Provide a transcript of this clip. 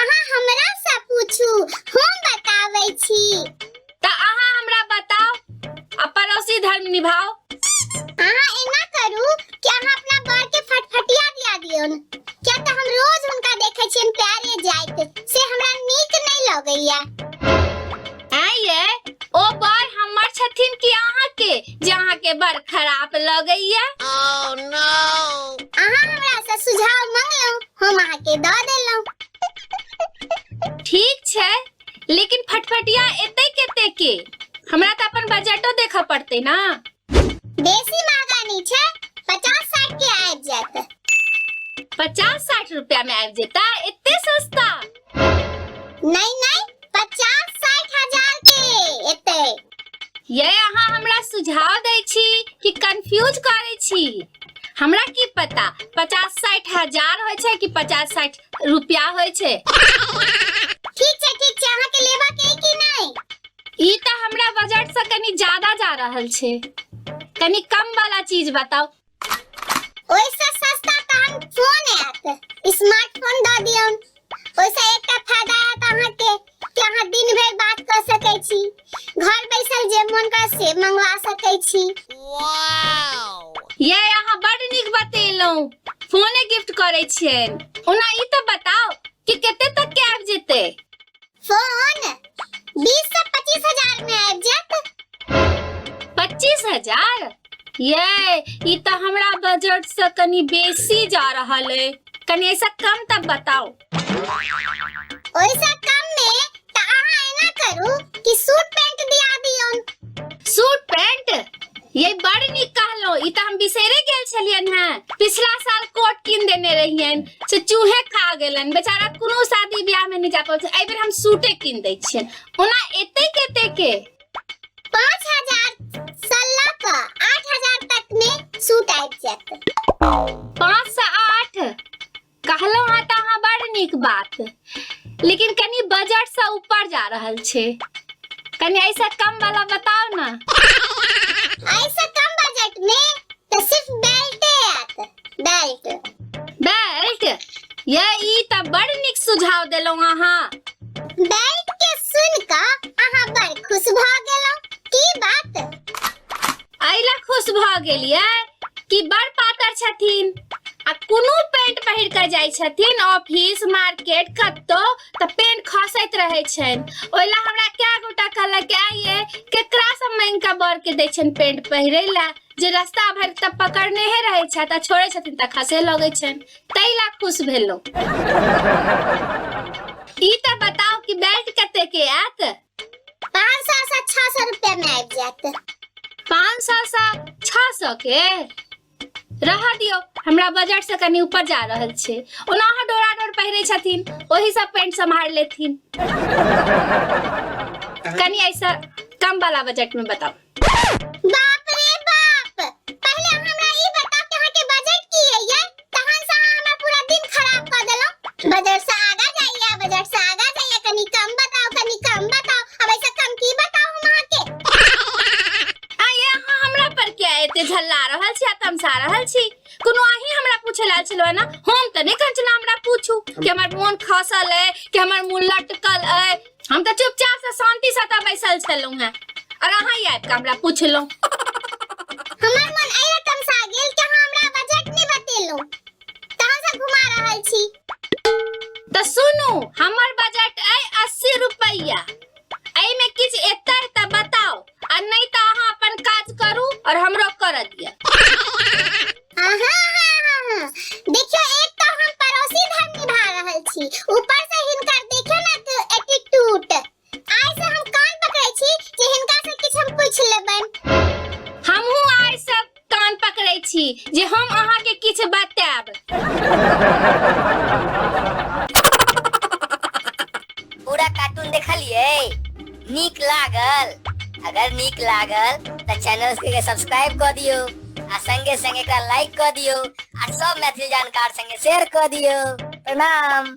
अहाँ हमरा से पूछू हम बताबै छी तऽ अहाँ हमरा बताउ आ पड़ोसी धर्म निभाउ अहाँ एना करू कि अहाँ अपना बर के फटफटिया दिया दियौन किया तऽ हम रोज हुनका देखै छियनि प्यारे जाइत से हमरा नीक नहि लगैया आँय ये ओ बर हमर छथिन कि अहाँके जे अहाँके बड़ खराब लगैया अहाँ हमरा से सुझाव मंगलहुँ हम अहाँके दऽ देलहुँ ठीक छै लेकिन फटफटिया एते कते के हमरा तऽ अपन बजटो देखऽ पड़तै ना बेसी महंगा नहीं छे पचास साठ के आबि जात पचास साठ रुपया में आबि जेता इतने सस्ता नहीं नहीं पचास साठ हजार के इतने ये अहाँ हमरा सुझाव दै छी कि कंफ्यूज करै छी हमरा की पता पचास साठ हजार होइ छै कि पचास साठ रुपया होइ छै ठीक छै ठीक छै अहाँ के लेबा के कि नहीं ई तऽ हमरा बजट से कनी ज्यादा जा रहल छै कनी कम वाला चीज बताओ ओइसे सस्ता तऽ हम फोन आयत स्मार्टफोन दऽ दियौ ओइसे एकटा फायदा आयत अहाँके कि अहाँ दिन भरि बात कऽ सकै छी घर बैसल जे मन कर से मंगवा सकै छी ये अहाँ बड नीक बतेलहुँ फोने गिफ्ट करै छियै ओना ई तऽ बताओ कि कते तक के आबि जेतै फोन बीस से पच्चीस हजार में आबि जायत पच्चीस हजार ये ई तऽ हमरा बजट से कनी बेसी जा रहल है कनी ऐसा कम तब बताओ ओइसा कम में त अहाँ एना करू कि सूट पैंट दिया दियौन सूट पैंट ये बड़ नीक कहलहुँ ई तऽ हम बिसैरे गेल छलियनि हेँ पिछला साल कोट कीन देने रहियनि से चूहे खा गेलनि बेचारा कोनो शादी ब्याहमे नहि जा पबै छै एहिबेर हम सूटे कीन दै छियनि ओना एतेक एतेके पाँच हजार से लऽ कऽ आठ हजार तक में सूट आबि जायत पाँच से आठ कहलहुँ हेँ तऽ अहाँ बड़ नीक बात लेकिन कनि बजटसँ ऊपर जा रहल छै कनि ऐसा कम वाला बताओ ना ऐसा कम बजट में तो सिर्फ बेल्ट आत बेल्ट बेल्ट ये ई त बड़ निक सुझाव देलो अहाँ बेल्ट के सुन क अहाँ बड़ खुश भ गेलो की बात एहि लए खुश भऽ गेलियै कि बड़ पातर छथिन आ कोनो पेंट पहिर कऽ जाइ छथिन ऑफिस मार्केट कतौ तऽ पेंट खसैत रहै छनि ओहि लए हमरा कए गोटा कहलक आइए केकरा सब मांगि कऽ बर के दै छनि पेंट पहिरे लए जे रास्ता भरि तऽ पकड़ने हे रहै छथि आ छोड़ै छथिन तऽ खसे लगै छनि ताहि लए खुश भेलहुँ ई तऽ बताउ कि बेल्ट कते के आयत पाँच सौ से छह सौ रुपया में आबि जायत पाँच सौ से छह सौ के रह दियो हमरा बजट से कनी ऊपर जा रहल छै ओना अहाँ डोरा डोर पहिरे छथिन ओही सब पेंट सम्हार लेथिन कनी ऐसा कम वाला बजट में बताओ बाप रे बाप पहले अहाँ हमरा ई बताउ कि अहाँ के बजट की है ये तहन से अहाँ हमरा पूरा दिन खराब कर देलौ बजट से आगा जाइए बजट से आगा जाइए कनी कम बताओ कनी कम बताओ अब ऐसा कम की बताओ हम अहाँ के आइए अहाँ हमरा पर क्या एते झल्ला रहल छी आ तमसा रहल छी कोनो अहीं हमरा पूछे लाल छलो ना हम त नहि कहै छलहुँ हमरा पूछू कि हमर मोन खसल अइ कि हमर मुँह लटकल अइ हम तऽ चुपचाप से शांति से तऽ बैसल छलहुँ हैं और अहाँ ही आबि कऽ हमरा पूछलहुँ हमर मन एहि तमसा गेल कि अहाँ हमरा बजट नहि बतेलहुँ तऽ हमसभ घुमा रहल छी तऽ सुनू हमर बजट अइ अस्सी रुपैया एहिमे किछु एतै तऽ बताउ आ नहि तऽ अहाँ अपन काज करू और हमरो करऽ दिअ हाँ हाँ हाँ हाँ हाँ देखियो एक तो हम पड़ोसी धन निभा रहल छी ऊपर से हिनकर देखियो ना तो एटीट्यूड आइ से हम कान पकड़ै छी जे हिनका से किछु हम पूछ लेबन हमहूँ आइ सब कान पकड़ै छी जे हम अहाँके किछु बतायब पूरा कार्टून देखलिए नीक लागल अगर नीक लागल तऽ चैनल के सब्सक्राइब कऽ दियौ आ संगे संगे एकरा लाइक कऽ दियौ आ सब मैथिली जानकार संगे शेयर कऽ दियौ प्रणाम